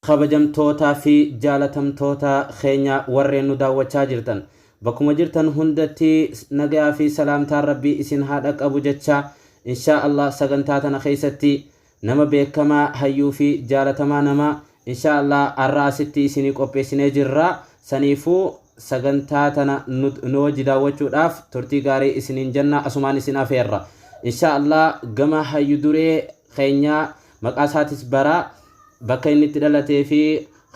kabajamtootaa fi jaalatamtoota keenya warreen nu daawwachaa jirtan bakkuma jirtan hundatti nagayaa fi salaamtaan rabbii isin haa dhaqqabu jecha inshaa allah sagantaa tana keessatti Nama beekkamaa hayyuu fi jaalatamaa namaa inshaa allah arra asitti isinii qopheessinee jirra saniifuu sagantaa tana nu wajji daawwachuudhaaf turtii gaarii isiniin jenna asumaan isin afeerra inshaa allah gama hayyu duree keenyaa maqaa isaatis bara bakka inni itti dhalatee fi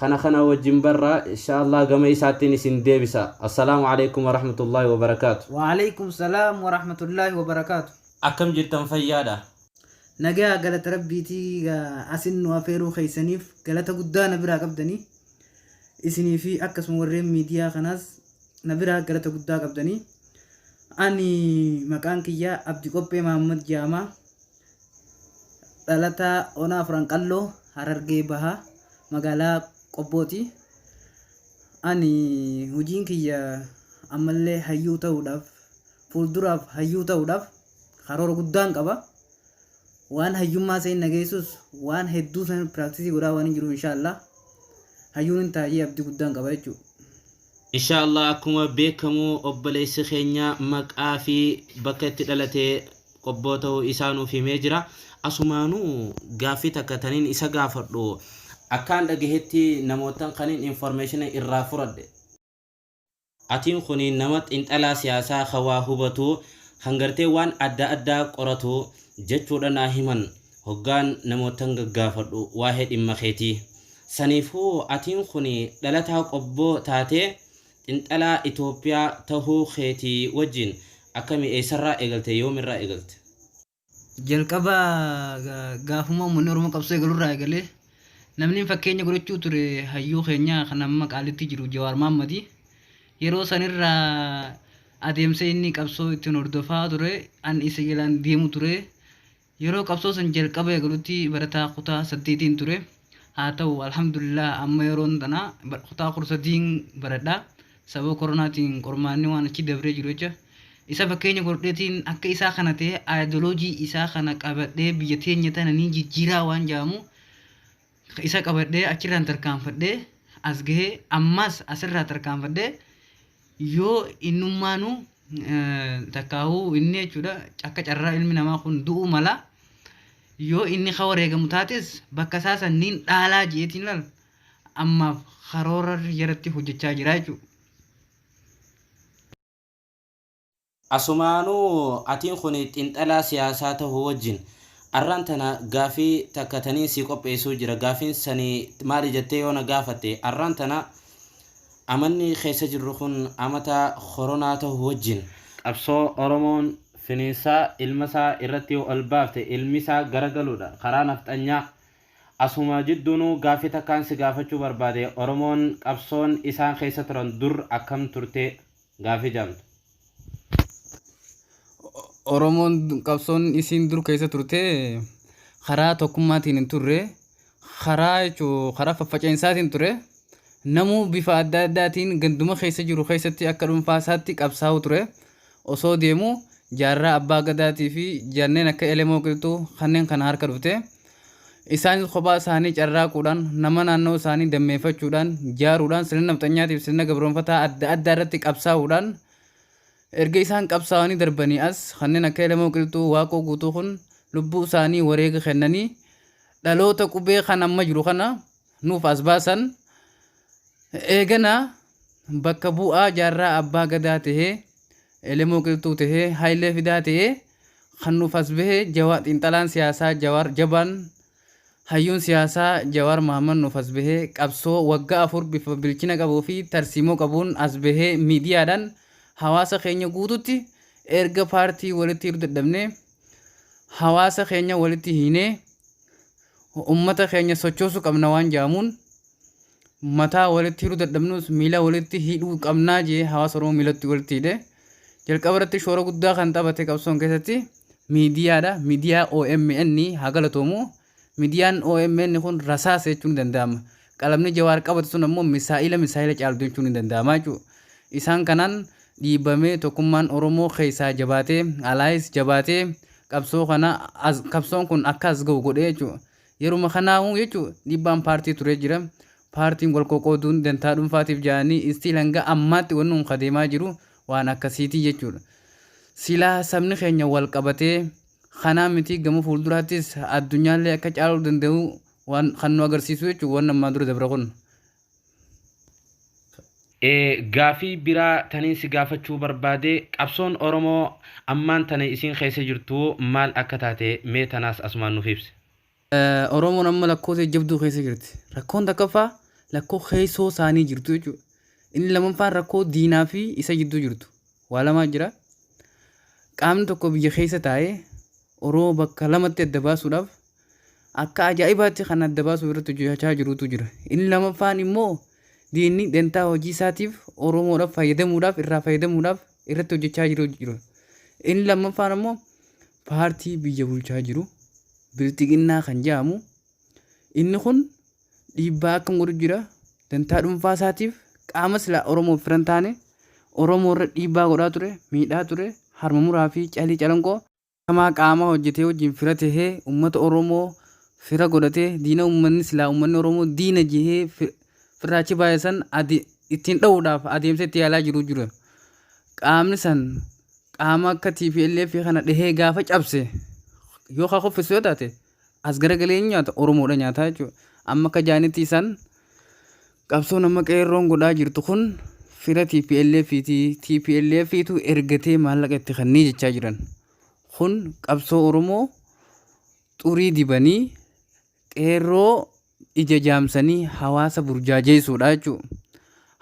kana kana wajjin barra inshaa allah gama isaattiin isin deebisa assalaamu aleykum warahmatullaahi wabarakaatu Wa'aleykum salaam wa rahmatullahi wa barakaatu. Akkam jirtan fayyaadha? Nagayaa galata rabbiiti asin nu afeeruu keessaniif galata guddaa na biraa qabdanii isinii fi akkasuma warreen miidiyaa kanaas na biraa galata guddaa qabdanii ani maqaan kiyyaa abdi qophee maammad jaamaa dhalataa onaa afran qalloo harargee bahaa magaalaa qobbooti ani hojiin kiyya ammallee hayyuu ta'uudhaaf fuulduraaf hayyuu ta'uudhaaf karoora guddaan qaba waan hayyummaa isa hin dhageessus waan hedduu san piraaktisii godhaa waan hin jiruuf inshaallah hayyuun hin taa'ee abdii guddaan qaba jechuudha. Inshaallah akkuma beekamu obboleessi keenya maqaa fi bakka itti dhalate qobboo ta'u isaa nuuf himee jira. Asumaanuu gaaffii takka taniin isa gaafadhu akkaan dhagahetti namootan kanin information irraa furadhe. Atiin kunii nama xinxalaa siyaasaa ka waa hubatuu kan gartee waan adda addaa qoratuu jechuudha naa himan hoggaan namoottan gaggaafadhu waahee dhimma keetii. Saniifuu atiin kunii dhalataa qobboo taatee xinxalaa Itoophiyaa tahuu keetii wajjiin akkamii eessarraa eegalte yoomirraa eegalte? Jalqaba gaafuma uummanni Oromoo qabsoo eegalu irraa eegalee namni fakkeenya godhachuu ture hayyuu keenya kan amma qaalitti jiru Jawaar Maammadi. Yeroo sanirraa adeemsa inni qabsoo ittiin hordofaa ture an isa jalaan deemu ture. Yeroo qabsoo san jalqaba eegalutti barataa kutaa saddeetiin ture. Haa ta'u alhamdulillah amma yeroon tana kutaa kudha sadiin baradha. Sababa koronaatiin qormaanni waan achi dabree jiru jecha isa fakkeenya godhadheetiin akka isaa kana ta'ee aayidoloojii isaa kana qabadhee biyya teenya tana niin jijjiiraa waan jaamu isa qabadhee achirraan tarkaanfadhee as gahee ammaas asirraa tarkaanfadhee yoo innummaanu takkaahuu inni jechuudha akka carraa ilmi namaa kun du'uu mala yoo inni ka wareegamu taates bakka isaa sanniin dhaalaa jeetiin laal ammaaf karoora irratti hojjechaa jira jechuudha. Asumaanuu atiin kun xinxalaa siyaasaa tahuu wajjin arraan tana gaafii takka taniin sii qopheessuu jira gaafiin sani maali jattee yoo na gaafatte arraan tana amanni keessa jirru kun amata koronaa tahuu wajjin qabsoo oromoon finiinsaa ilma isaa irratti ol baafte ilmi isaa garagaluudha karaa nafxanyaa Asuma jidduunuu gaaffii takkaan si gaafachuu barbaade Oromoon qabsoon isaan keessa turan dur akkam turte? Gaaffii jaamtu. Oromoon qabsoon isiin dur keessa turte karaa tokkummaatiin hin turre karaa jechuu karaa faffaceensaatiin ture namuu bifa adda addaatiin ganduma keessa jiru keessatti akka dhuunfaa isaatti qabsaa'u ture osoo deemuu jaarraa Abbaa Gadaatii fi jarneen akka Elemoo Qilxuu kanneen kana harka dhufte. Isaanis kophaa isaanii carraaquudhaan, nama naannoo isaanii dammeeffachuudhaan, jaaruudhaan, sirna nafxanyaatiif fi sirna gabroomfataa adda addaa irratti qabsaa'uudhaan erga isaan qabsaawanii darbanii as kanneen akka Elemoo Qilxuu, Waaqoo Guutuu kun lubbuu isaanii wareega kennanii dhaloota qubee kan amma jiru kana nuuf as baasan eegana bakka bu'aa jaarraa abbaa gadaa ta'ee elemoo qilxuu ta'ee hayilee fidaa ta'ee kan nuuf as bahe jawaa xiinxalaan siyaasaa jawaar jabaan hayyuun siyaasaa jawaar mahammad nuuf as bahe qabsoo waggaa afur bifa bilchina qabuu fi tarsiimoo qabuun as bahe miidiyaadhaan hawaasa keenya guututti erga paartii walitti hidhuu dadhabnee hawaasa keenya walitti hiinee ummata keenya sochoosu qabna waan jaamuun mataa walitti hidhuu dadhabnus miila walitti hidhuu qabnaa jee hawaasa Oromoo miilatti walitti hidhe. Jalqaba irratti shoora guddaa kan taphate qabsoon keessatti miidiyaadha. Miidiyaa OMN haa galatoomu. Midiyaan omn kun rasaasa jechuun ni danda'ama. Qalamni Jawaar qabate sun ammoo misaa'ila misaa'ila caaltu jechuun ni danda'ama jechuu. Isaan kanaan dhiibamee tokkummaan Oromoo keessaa jabaatee alaayis jabaatee qabsoo kana as qabsoon kun akka as ga'u godhee jechuu. Yeruma kanaahuu jechuu dhiibbaan paartii turee jira. Paartiin wal qoqqooduun dantaa dhuunfaatiif ja'anii istiil hanga ammaatti wanni kun ka deemaa jiru waan akkasiitii jechuudha. Silaa sabni keenya wal qabatee Kanaa mitii gama fuulduraattis addunyaallee akka caaluu danda'u waan kan nu agarsiisu jechuun waan ammaa dura dabre kun. Gaafii biraa taniin si gaafachuu barbaade qabsoon Oromoo ammaan tana isiin keessa jirtu maal akka taate mee tanaas asumaan nuuf ibsi. Oromoon amma lakkoo jajjabduu keessa jirti. Rakkoon takkaffaa lakkoo keessoo isaanii jirtu jechuudha. Inni lammaffaan rakkoo diinaa fi isa jidduu jirtu. Waa lamaa jira. Qaamni tokko biyya keessa taa'ee Oromoo bakka lamatti adda baasuudhaaf akka ajaa'ibaatti kan adda baasuu irratti hojjechaa jirutu jira. Inni lammaffaan immoo diinni dantaa hojii isaatiif Oromoodhaaf fayyadamuudhaaf irraa fayyadamuudhaaf irratti hojjechaa jiru jiru. Inni lammaffaan immoo paartii biyya bulchaa jiru Bilxiginnaa kan jedhamu inni kun dhiibbaa akkam godhu jira dantaa dhuunfaa isaatiif qaama silaa Oromoof fira hin taane Oromoo irra dhiibbaa godhaa ture miidhaa ture harma muraa fi calii calanqoo kamaa qaama hojjetee wajjin fira tahee uummata Oromoo fira godhatee diina uummanni silaa uummanni Oromoo diina jehee firraachi baay'isan ittiin dha'uudhaaf adeemsa itti yaalaa jiru jira. qaamni san qaama akka TPLF kana dhahee gaafa cabse yoo ka kuffisu yoo taate as garagalee hin nyaata Oromoodha nyaataa jechuudha. Amma akka jaanitti isaan qabsoon amma qeerroon godhaa jirtu kun fira TPLF ti TPLF tu ergatee maallaqa itti kannee jechaa jiran. Kun qabsoo Oromoo xurii dibanii qeerroo ija jaamsanii hawaasa burjaajeessuudha jechuu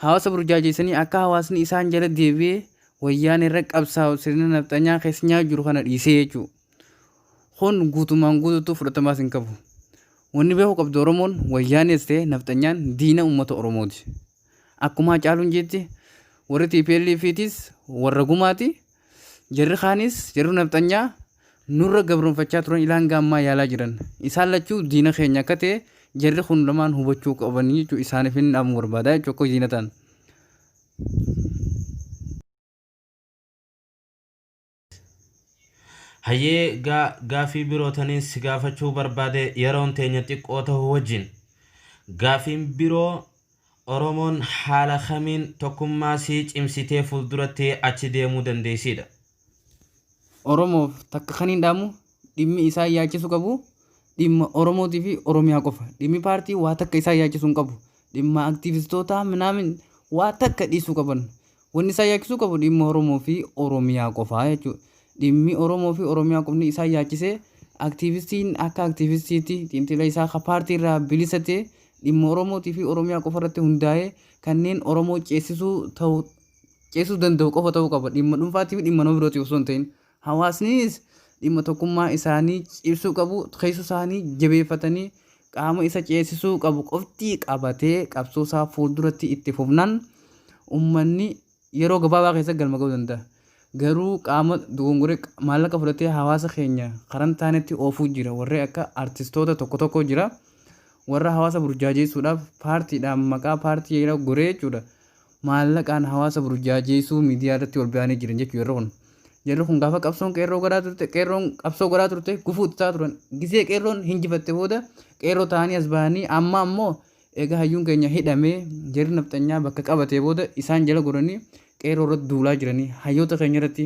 hawaasa burjaajeessanii akka hawaasni isaan jala deebi'ee wayyaan irra qabsaa'u sirna nafxanyaa keessa nyaa jiru kana dhiisee jechuu kun guutumaan guutuutu fudhatamaas hin qabu wanni beeku qabdu oromoon wayyaanis ta'e nafxanyaan diina ummata oromooti akkuma hacaaluun jeetti warri tplf tiis warra gumaati Jarri kaanis jarri nafxanyaa nurra gabroonfachaa turan ilaan gaammaa yaalaa jiran. Isaan lachuu diina keenya akka ta'e jarri kun lamaan hubachuu qabanii jechuu isaaniif hin dhaamu barbaada jechuu akka diina ta'an. Hayyee gaa gaafii biroo taniin si gaafachuu barbaade yeroon teenya xiqqoo ta'uu wajjin. Gaafiin biroo Oromoon haala kamiin tokkummaa sii cimsitee fulduratti achi deemuu dandeessiidha? Oromoof takka kaniin dhaamu dhimmi isaan yaachisu qabu dhimma Oromootii fi Oromiyaa qofa. Dhimmi paartii waa takka isaan yaachisu hin qabu. Dhimma aktiivistootaa minaamin waa takka dhiisuu qaban. Wanni isaan yaachisuu qabu dhimma Oromoo fi Oromiyaa qofaa jechuudha. Dhimmi Oromoo fi Oromiyaa qofni isaan yaachisee aktiivistiin akka aktiivistiitti xiinxila isaa ka paartii irraa bilisa ta'e dhimma Oromootii fi Oromiyaa qofa irratti hundaa'ee kanneen Oromoo ceessisuu ta'u ceessisuu danda'u qofa ta'uu qaba. Dhimma dhuunfaatii fi dhimma nama birootiif osoo hin ta'in. Hawaasnis dhimma tokkummaa isaanii cimsuu qabu, keessoo isaanii jabeeffatanii qaama isa ceesisuu qabu qofti qabatee qabsoo isaa fuulduratti itti fufnaan ummanni yeroo gabaabaa keessatti galma ga'uu danda'a. Garuu qaama dogongoree maallaqa fudhatee hawaasa keenya karaa hin taanetti oofuu jira. Warri akka artistoota tokko tokkoo jira. Warra hawaasa burjaajeessuudhaaf paartiidhaan maqaa paartii jedha goree jechuudha. maallaqaan hawaasa burjaajeessuu miidiyaa irratti ol ba'anii jiran jechuudha jarri kun. Jarri kun gaafa qabsoon qeerroo godhaa turte qeerroon qabsoo godhaa turte gufuu itti ta'aa turan. Gisee qeerroon hinjifatte booda qeerroo ta'anii as bahanii amma ammoo egaa hayyuun keenya hidhamee jarri nafxanyaa bakka qabatee booda isaan jala goranii qeerroo irratti duulaa jiranii hayyoota keenya irratti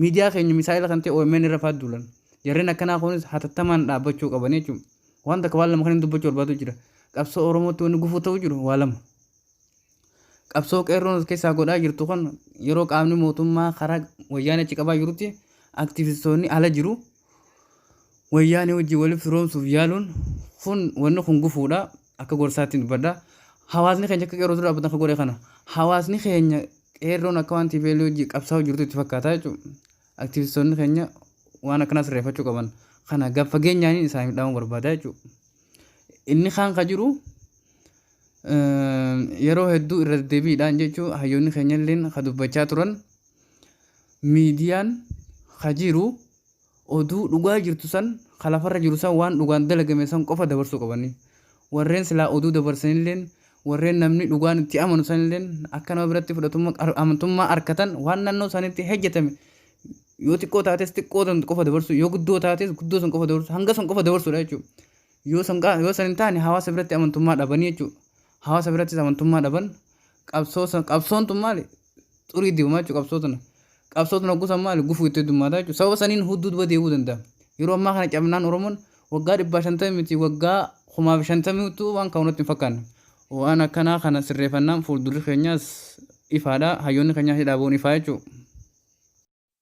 miidiyaa keenya misaa'ila kan ta'e OMN irra fa'aa duulan. Jarreen akkanaa kunis hatattamaan dhaabbachuu qaban jechuudha. Waan takka waan lama kan hin dubbachuu barbaadu jira. Qabsoo Oromootti wanni gufuu ta'u jiru waa lama. qabsoo qeerroon as keessaa godhaa jirtu kun yeroo qaamni mootummaa karaa wayyaanee achi qabaa jirutti aktivistoonni ala jiru wayyaanee wajjin waliif firoomsuuf yaaluun kun wanni kun gufuudha akka gorsaatti dubbadha hawaasni keenya akka qeerroo dura dhaabbatan akka godhe kana hawaasni keenya qeerroon akka waan TPL wajjin qabsaa'aa jirtu itti fakkaata jechuudha aktivistoonni keenya waan akkanaa sirreeffachuu qaban kana gad fageenyaan isaaniif dhaamuu barbaada jechuudha inni kaan ka jiru yeroo hedduu irra deddeebiidhaan jechuun hayyoonni keenya illeen ka dubbachaa turan miidiyaan ka jiru oduu dhugaa jirtu san ka lafarra jiru san waan dhugaan dalagame san qofa dabarsuu qabanii warreen silaa oduu dabarsan illeen warreen namni dhugaan itti amanu san illeen akka nama biratti fudhatummaa ar- amantummaa arkatan waan naannoo isaaniitti hojjetame yoo xiqqoo taates xiqqoo san qofa dabarsuu yoo guddoo taates guddoo san qofa dabarsuu hanga san qofa dabarsuudha jechuudha. Yoo san qa- yoo san hin taane hawaasa biratti amantummaa dhabanii jechuudha. Hawaasa birattis amantummaa dhaban qabsoo san qabsoon tun maali xurii dibamaa jechuudha qabsoo tana. Qabsoo tun hogguu san maali gufuu itti heddummaataa jechuudha. Sababa saniin hudduu duba deebi'uu danda'a. Yeroo ammaa kana cabnaan Oromoon waggaa dhibbaa shantamii miti waggaa kumaa fi shantamii utuu waan ka'u natti hin fakkaanne. Waan akkanaa kana sirreeffannaan fuuldurri keenyaas ifaadha. Hayyoonni keenyaas hidhaa ba'uun ifaa jechuudha.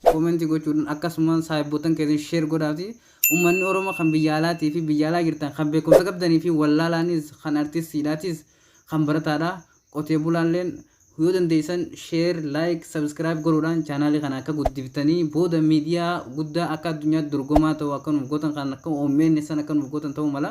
Comment gochuudhan akkasumaan saahibboottan keessan share godhaafi ummanni Oromoo kan biyya alaatii fi biyya alaa jirtan kan beekumsa qabdanii fi wallaalaanis kan artistiidhaatis kan barataadha qotee bulaalleen yoo dandeessan share like subscribe godhuudhaan channel kana akka guddiftanii booda media guddaa akka addunyaatti dorgomaa ta'u akka nuuf gootan kan akka omn san akka nuuf gootan ta'uu mala